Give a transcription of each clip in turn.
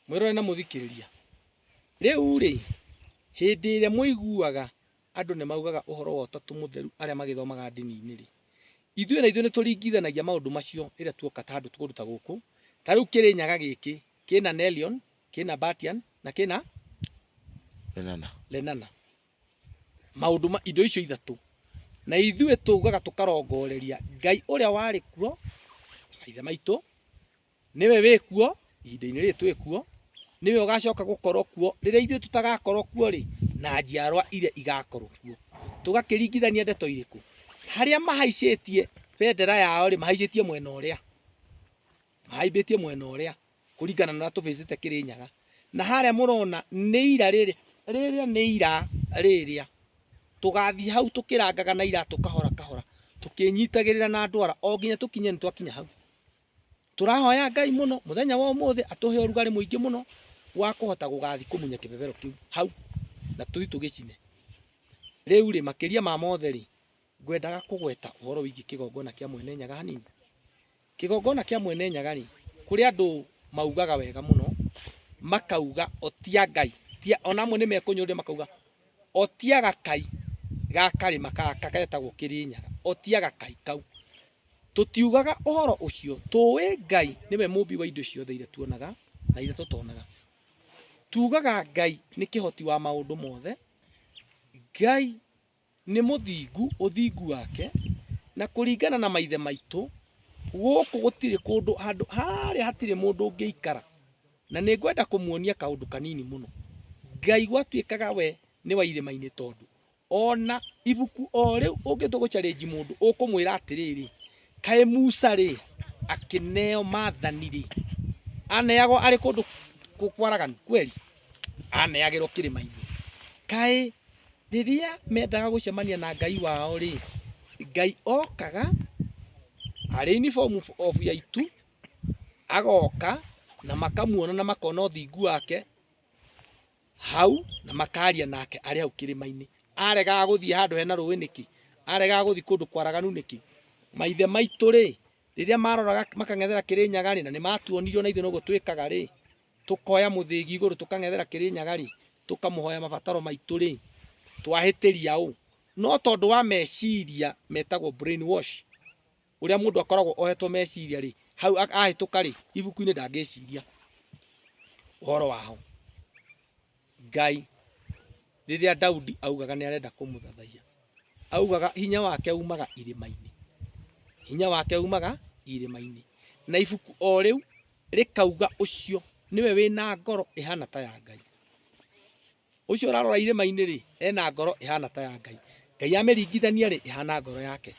Mwĩrore na mũthikĩrĩria. Rĩu-rĩ, hĩndĩ ĩrĩa mũiguaga andũ nĩ maugaga ũhoro wa ũtatũ mũtheru arĩa magĩthomaga ndini-inĩ-rĩ, ithuĩ na ithuĩ nĩ tũringithanagia maũndũ macio rĩrĩa tuoka ta handũ kũndũ ta gũkũ. Ta rĩu Kĩrĩnyaga gĩkĩ kĩna Nelion, kĩna Batian na kĩna Lenana. Lenana. Maũndũ ma indo icio ithatũ. Na ithuĩ tũugaga tũkarongoreria Ngai ũrĩa warĩ kuo, maithe maitũ, Nĩwe wĩ kuo ihinda-inĩ rĩrĩ twĩ kuo, nĩwe ũgacoka gũkorwo kuo rĩrĩa ithuĩ tũtagakorwo kuo-rĩ, na njiarwa iria igakorwo kuo. Tũgakĩringithania ndeto irĩkũ? Harĩa mahaicĩtie bendera yao-rĩ, mahaicĩtie mwena ũrĩa, mahaimbĩtie mwena ũrĩa kũringana na ũrĩa tũbĩcĩte Kĩrĩnyaga. Na harĩa mũrona nĩ ira rĩrĩa, rĩrĩa nĩ ira rĩrĩa. Tũgathiĩ hau tũkĩrangaga na iratũ kahora kahora, tũkĩnyitagĩrĩra na ndwara o nginya tũkinye nĩ twakinya hau. Tũrahoya Ngai mũno mũthenya wa ũmũthĩ atũhe ũrugarĩ mũingĩ mũno wa kũhota gũgathi kũmunya kĩbebero kĩu hau na tũthi tũgĩcine. Rĩu rĩ, makĩria ma mothe rĩ, ngwendaga kũgweta ũhoro wĩgiĩ kĩgongona kĩa Mwene Nyaga hanini. Kĩgongona kĩa Mwene Nyaga rĩ, kũrĩ andũ maugaga wega mũno, makauga o ti a Ngai, ona amwe nĩ mekũnyũrũria makauga o ti a gakai ga karĩma gaka getagwo Kĩrĩnyaga, o ti a gakai kau. Tũtiugaga ũhoro ũcio. Tũũĩ Ngai nĩwe mũũmbi wa indo ciothe iria tuonaga na iria tũtonaga. Tuugaga Ngai nĩ kĩhoti wa maũndũ mothe. Ngai nĩ mũthingu ũthingu wake na kũringana na maithe maitũ gũkũ gũtirĩ kũndũ handũ harĩa hatirĩ mũndũ ũngĩikara na nĩ ngwenda kũmuonia kaũndũ kanini mũno. Ngai gwatuĩkaga we nĩ wa irĩma-inĩ tondũ Ona ibuku o rĩu ũngĩtua gũcarĩnji mũndũ ũkũmwĩra atĩrĩrĩ kaĩ Musa rĩ akĩneo mathani rĩ aneagwo arĩ kũndũ kwaraganu kweli aneagĩrwo kĩrĩma-inĩ kaĩ rĩrĩa mendaga gũcemania na Ngai wao rĩ Ngai okaga arĩ in form of ya itu agoka na makamuona na makona ũthingu wake hau na makaria nake arĩ hau kĩrĩma-inĩ aregaga gũthiĩ handũ hena rũĩ nĩkĩ aregaga gũthiĩ kũndũ kwaraganu nĩkĩ maithe maitũ rĩ rĩrĩa maroraga makang'ethera kĩrĩnyaga rĩ na nĩ matuonirio na ithuĩ noguo twĩkaga rĩ tũkoya mũthĩgi igũrũ tũkang'ethera kĩrĩnyaga rĩ tũkamũhoya mabataro maitũ rĩ twahĩtĩria ũ no tondũ wa meciria metagwo brain wash ũrĩa mũndũ akoragwo ohetwo meciria rĩ hau a- ahĩtũka rĩ ibuku-inĩ ndangĩciria ũhoro waho ngai rĩrĩa daudi augaga nĩ arenda kũmũthathaiya augaga hinya wake umaga irĩma-inĩ hinya wake umaga irĩma-inĩ na ibuku o rĩu rĩkauga ũcio nĩwe wĩna ngoro ĩhana ta ya ngai Ũcio ũrarora irĩma-inĩ-rĩ, ena ngoro ĩhana ta ya Ngai, Ngai amĩringithania-rĩ, ĩhana ngoro yake.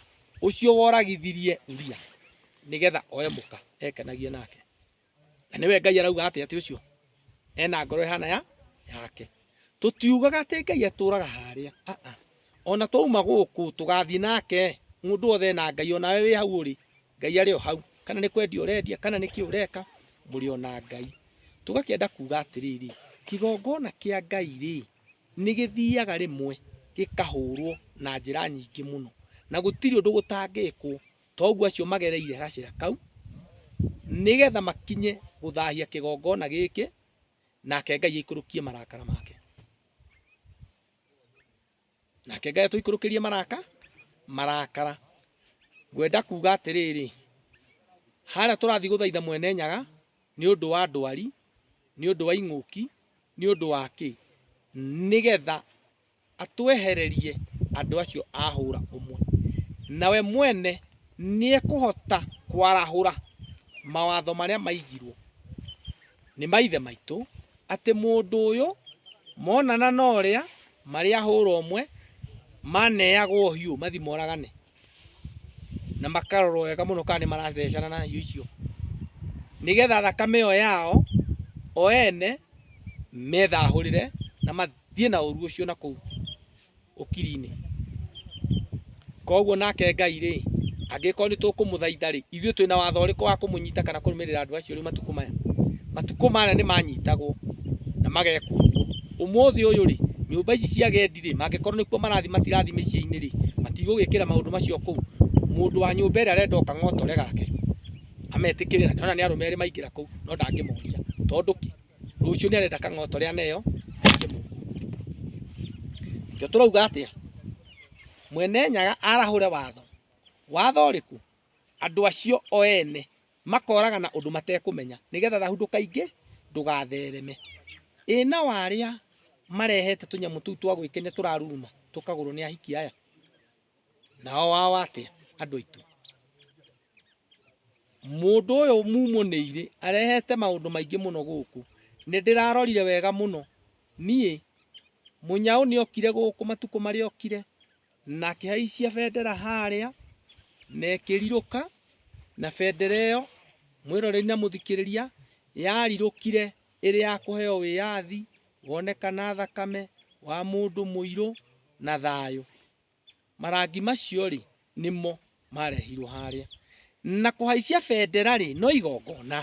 Ũcio woragithirie Uria nĩgetha oe mũka, ekenagie nake. Na nĩwe Ngai arauga atĩ atĩ ũcio ena ngoro ĩhana ya yake. Tũtiugaga atĩ Ngai atũraga harĩa, aa. ona twauma gũkũ tũgathiĩ nake mũndũ wothe ena ngai ona we wĩ hau ũrĩ ngai arĩ o hau kana nĩ kwendia ũrendia kana nĩ kĩ ũreka mũrĩ ona ngai tũgakĩenda kuga atĩrĩrĩ kĩgongona kĩa ngai rĩ nĩ gĩthiaga rĩmwe gĩkahũrwo na njĩra nyingĩ mũno na gũtirĩ ũndũ gũtangĩkwo toguo acio magereire gacĩra kau nĩgetha makinye gũthahia kĩgongona gĩkĩ nake ngai aikũrũkie marakara make nake ngai tũikũrũkĩrie maraka marakara ngwenda kuga atĩrĩrĩ harĩa tũrathiĩ gũthaitha mwene nyaga nĩ ũndũ wa ndwari nĩ ũndũ wa ing'ũki nĩ ũndũ wa kĩ nĩgetha atwehererie andũ acio ahũra ũmwe nawe mwene nĩekũhota kwarahũra mawatho marĩa maigirwo nĩ maithe maitũ atĩ mũndũ ũyũ monana na ũrĩa marĩ ahũra ũmwe maneagwo hiũ mathi moragane na makarorwo wega mũno kana nĩ marathecana na hiũ icio nĩgetha thakame ĩyo yao o ene methahũrĩre na mathiĩ na ũru ũcio na kũu. ũkiri-inĩ. Koguo nake Ngai rĩ, angĩkorwo nĩ tũkũmũthaitha rĩ, ithuĩ twĩna watho ũrĩkũ wa kũmũnyita kana kũrũmĩrĩra andũ acio rĩu matukũ maya? Matukũ maya nĩ manyitagwo na magekwo ũguo. Ũmũthĩ ũyũ rĩ, nyũmba ici cia agendi rĩ, mangĩkorwo nĩkuo marathiĩ matirathiĩ mĩciĩ-inĩ rĩ, matigũgĩkĩra maũndũ macio kũu. Mũndũ wa nyũmba ĩrĩa arenda o kang'otore gake ametĩkĩre, na nĩ arona nĩ arũme erĩ maingĩra kũu no ndangĩmoria. Tondũ kĩ? rũciũ nĩ arenda kang'oto rĩa neyo kĩo tũrauga atĩa mwene nyaga arahũre watho watho ũrĩkũ andũ acio o ene makoraga na ũndũ matekũmenya nĩgetha thahu ndũkaingĩ ndũgathereme ĩna warĩa marehete tũnyamũ tũu twa gwĩkenia tũraruruma tũkagũrwo nĩ ahiki aya nao wao atĩa andũ aitũ Mũndũ ũyũ mumũ nĩ irĩ arehete maũndũ maingĩ mũno gũkũ. Nĩ ndĩrarorire wega mũno. Niĩ, mũnyaũ nĩ okire gũkũ matukũ marĩa okire na akĩhaicia bendera harĩa na ĩkĩrirũka na bendera ĩyo, mwĩroreri na mũthikĩrĩria, yarirũkire ĩrĩ ya kũheo wĩyathi, wonekana thakame wa mũndũ mũirũ na thayũ. Marangi macio-rĩ, nĩmo maarehirwo harĩa. Na kũhaicia bendera-rĩ, no igongona.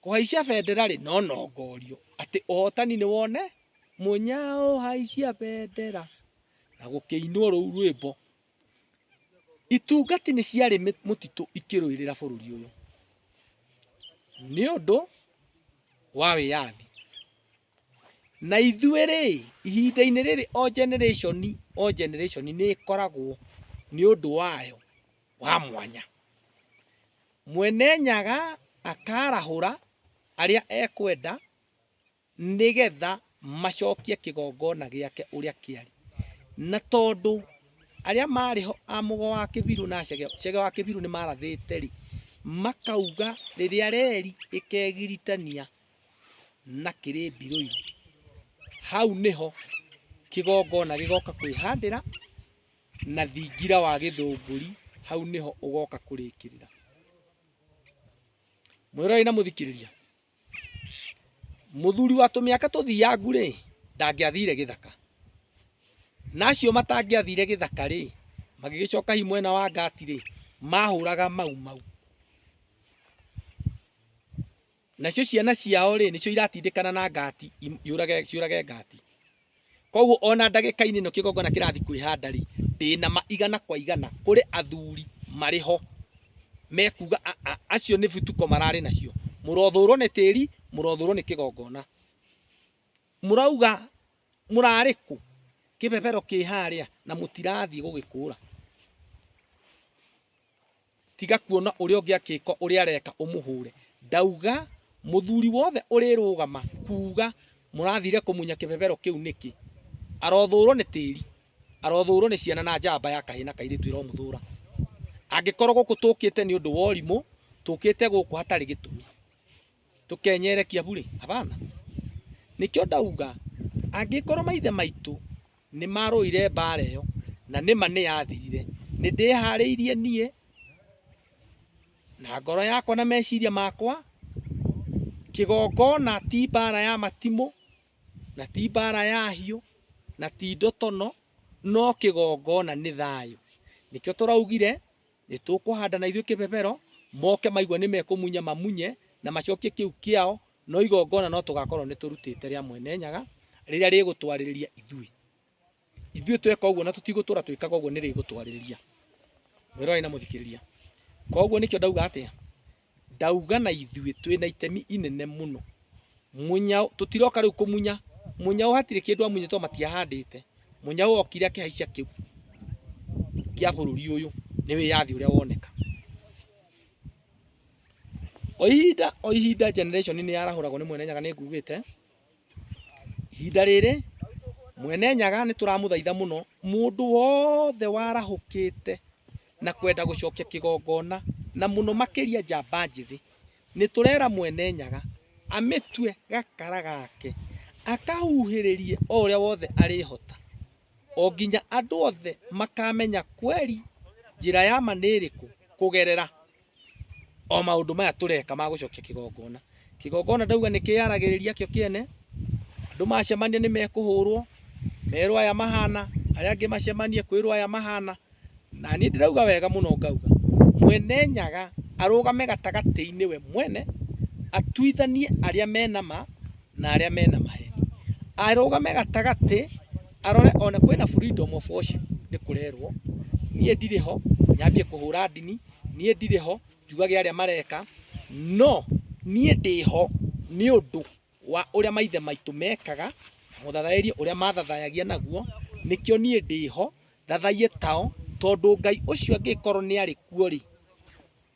Kũhaicia bendera-rĩ, no nongorio. Atĩ ũhotani nĩ wone. Mũnyaũ haicia bendera. Na gũkĩinwo rũu rwĩmbo. Itungati nĩ ciarĩ mũtitũ ikĩrũĩrĩra bũrũri ũyũ. Nĩ ũndũ wa wĩyathi. Na ithuĩ rĩ, ihinda-inĩ rĩrĩ o generation o generation nĩ ĩkoragwo nĩ ũndũ wayo wa mwanya. Mwene Nyaga akarahũra arĩa ekwenda nĩgetha macokie kĩgongona gĩake ũrĩa kĩarĩ. Na tondũ arĩa marĩ ho a Mũgo wa Kĩbirũ na Chege, Chege wa Kĩbirũ nĩ marathĩte rĩ, makauga rĩrĩa reri ĩkegiritania. na kĩrĩ mbirũirũ hau nĩho kĩgongona gĩgoka kwĩhandĩra na thingira wa gĩthũngũri hau nĩho ũgoka kũrĩkĩrĩra mwĩrorei na mũthikĩrĩria mũthuri wa tũmĩaka tũthiangu rĩ ndangĩathire gĩthaka na acio matangĩathire gĩthaka rĩ magĩgĩcoka hi mwena wa ngati rĩ mahũraga mau mau nacio ciana ciao rĩ nĩcio iratindĩkana na ngati im- yũrage ciũrage ngati koguo ona ndagĩka-inĩ ĩno kĩgongona kĩrathi kwĩhanda rĩ ndĩna ma igana kwa igana kũrĩ athuri marĩ ho mekuga "A- a- acio nĩ bituko mararĩ nacio mũrothũrwo nĩ tĩri mũrothũrwo nĩ kĩgongona mũrauga mũrarĩ kũ kĩbebero kĩ harĩa na mũtirathiĩ gũgĩkũra tiga kuona ũrĩa ũngĩ akĩka ũrĩa areka ũmũhũre ndauga mũthuri wothe ũrĩrũgama kuga mũrathire kũmunya kĩbebero kĩu nĩkĩ arothũrwo nĩ tĩri arothũrwo nĩ ciana na njamba ya kahĩ na kairĩtu ĩromũthũra angĩkorwo gũkũ tũkĩte nĩ ũndũ wa ũrimũ tũkĩte gũkũ hatarĩ gĩtũmi tũkenyere Kiambu rĩ hapana nĩkĩo ndauga angĩkorwo maithe maitũ nĩ marũire mbara ĩyo na nĩma nĩ yathirire nĩ ndĩharĩirie niĩ na ngoro yakwa na meciria makwa kĩgongona ti mbara ya matimũ na ti mbara ya hiũ na ti ndotono no kĩgongona nĩ thayũ nĩkĩo tũraugire nĩ tũkũhanda na ithuĩ kĩbebero, moke maigua nĩ mekũmunya mamunye na macokie kĩu kĩao, no igongona no tũgakorwo nĩ tũrutĩte rĩa mwene nyaga rĩrĩa rĩgũtwarĩrĩria ithuĩ. Ithuĩ tweka ũguo na tũtigũtũra twĩkaga ũguo nĩ rĩgũtwarĩrĩria. Mwĩroreri na mũthikĩrĩria, koguo nĩkĩo ndauga atĩa? Ndauga na ithuĩ twĩ na itemi inene mũno. Mũnyau, tũtiroka rĩu kũmunya. Mũnyau hatirĩ kĩndũ amunyĩte tondũ matiahandĩte. Mũnyau okire akĩhaicia kĩu kĩa bũrũri ũyũ. Nĩ wĩyathi ũrĩa woneka. O ihinda o ihinda generation nĩ yarahũragwo nĩ Mwene Nyaga nĩ ngugĩte. Ihinda rĩrĩ Mwene Nyaga nĩ tũramũthaitha mũno mũndũ wothe warahũkĩte na kwenda gũcokia kĩgongona na mũno makĩria njamba njĩthĩ, nĩ tũrera Mwene Nyaga amĩtue gakara gake akahuhĩrĩrie o ũrĩa wothe arĩhota o nginya andũ othe makamenya kweri njĩra ya ma nĩ ĩrĩkũ kũgerera o maũndũ maya tũreka ma gũcokia kĩgongona kĩgongona ndauga nĩ kĩyaragĩrĩria kĩo kĩene andũ macemania nĩ mekũhũrwo merwo aya mahana arĩa angĩ macemanie kwĩrwo aya mahana na niĩ ndĩrauga wega mũno ngauga mwene nyaga arũgame gatagatĩ-inĩ we mwene atuithanie arĩa mena ma na arĩa mena maheni arũgame gatagatĩ arore ona kwĩna freedom of worship nĩ kũrerwo niĩ ndirĩ ho nyambie kũhũra ndini niĩ ndirĩ ho njugage arĩa mareka no niĩ ndĩ ho nĩ ũndũ wa ũrĩa maithe maitũ mekaga na mũthathaĩrie ũrĩa mathathayagia naguo, nĩkĩo niĩ ndĩ ho thathaiye tao, tondũ Ngai ũcio angĩkorwo nĩ arĩ kuo rĩ,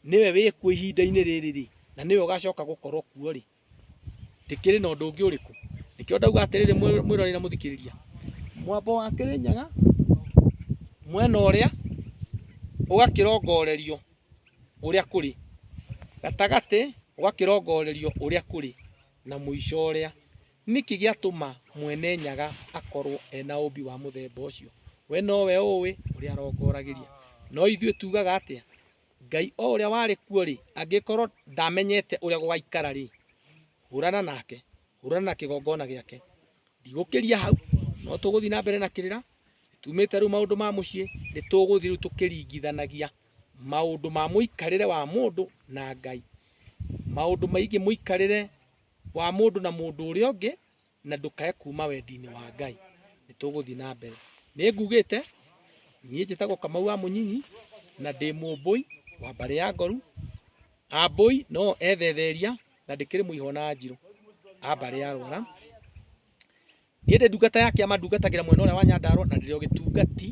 nĩwe wĩ kuo ihinda-inĩ rĩrĩ rĩ, na nĩwe ũgacoka gũkorwo kuo rĩ. ndĩkĩrĩ na ũndũ ũngĩ ũrĩkũ nĩkĩo ndauga atĩrĩrĩ mwĩ- mwĩroreri na mũthikĩrĩria mwambo wa kĩrĩnyaga mwena ũrĩa ũgakĩrongorerio ũrĩa kũrĩ gatagatĩ ũgakĩrongorerio ũrĩa kũrĩ na mũico ũrĩa nĩkĩ gĩatũma mwene nyaga akorwo ena ũmbi wa mũthemba ũcio we nowe ũĩ ũrĩa arongoragĩria no ithuĩ tugaga atĩa Ngai o ũrĩa warĩ kuo-rĩ, angĩkorwo ndamenyete ũrĩa gũgaikara-rĩ, hũrana nake, hũrana na kĩgongona gĩake. Ndigũkĩria hau, no tũgũthiĩ na mbere na kĩrĩra, tumĩte rĩu maũndũ ma mũciĩ, nĩ tũgũthiĩ rĩu tũkĩringithanagia maũndũ ma mũikarĩre wa mũndũ na Ngai, maũndũ megiĩ mũikarĩre wa mũndũ na mũndũ ũrĩa ũngĩ. na ndũkae kuma wendi-inĩ wa Ngai, nĩ tũgũthiĩ na mbere. Nĩ ngugĩte, niĩ njĩtagwo Kamau wa Mũnyinyi, na ndĩ mũmbũi wa mbarĩ ya Ngoru. Ambũi no ethetheria, na ndĩkĩrĩ mũihwo na Njirũ a mbarĩ ya Rwara. Niĩ ndĩ ndungata ya kĩama ndungatagĩra mwena ũrĩa wa Nyandarũa, na ndĩrĩ o gĩtungati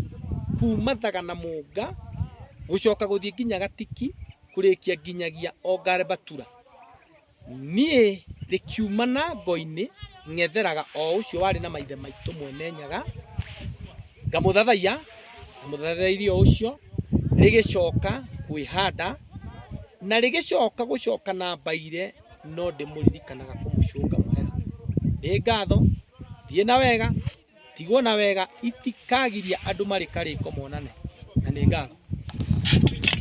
kuma Thaga na Mũnga, gũcoka gũthiĩ nginya Gatiki, kũrĩkia nginyagia o Ngarembatura. Niĩ rĩkiumana ngo-inĩ ng'etheraga o ũcio warĩ na maithe maitũ Mwene Nyaga, ngamũthathaiya, ndamũthathairie o ũcio, rĩgĩcoka kwĩhanda, na rĩgĩcoka gũcoka na mbaire no ndĩmũririkanaga kũmũcũnga mũhera. Nĩ ngatho, thiĩ na wega, tigwo na wega, itikagiria andũ marĩ karĩko monane. Na nĩ ngatho.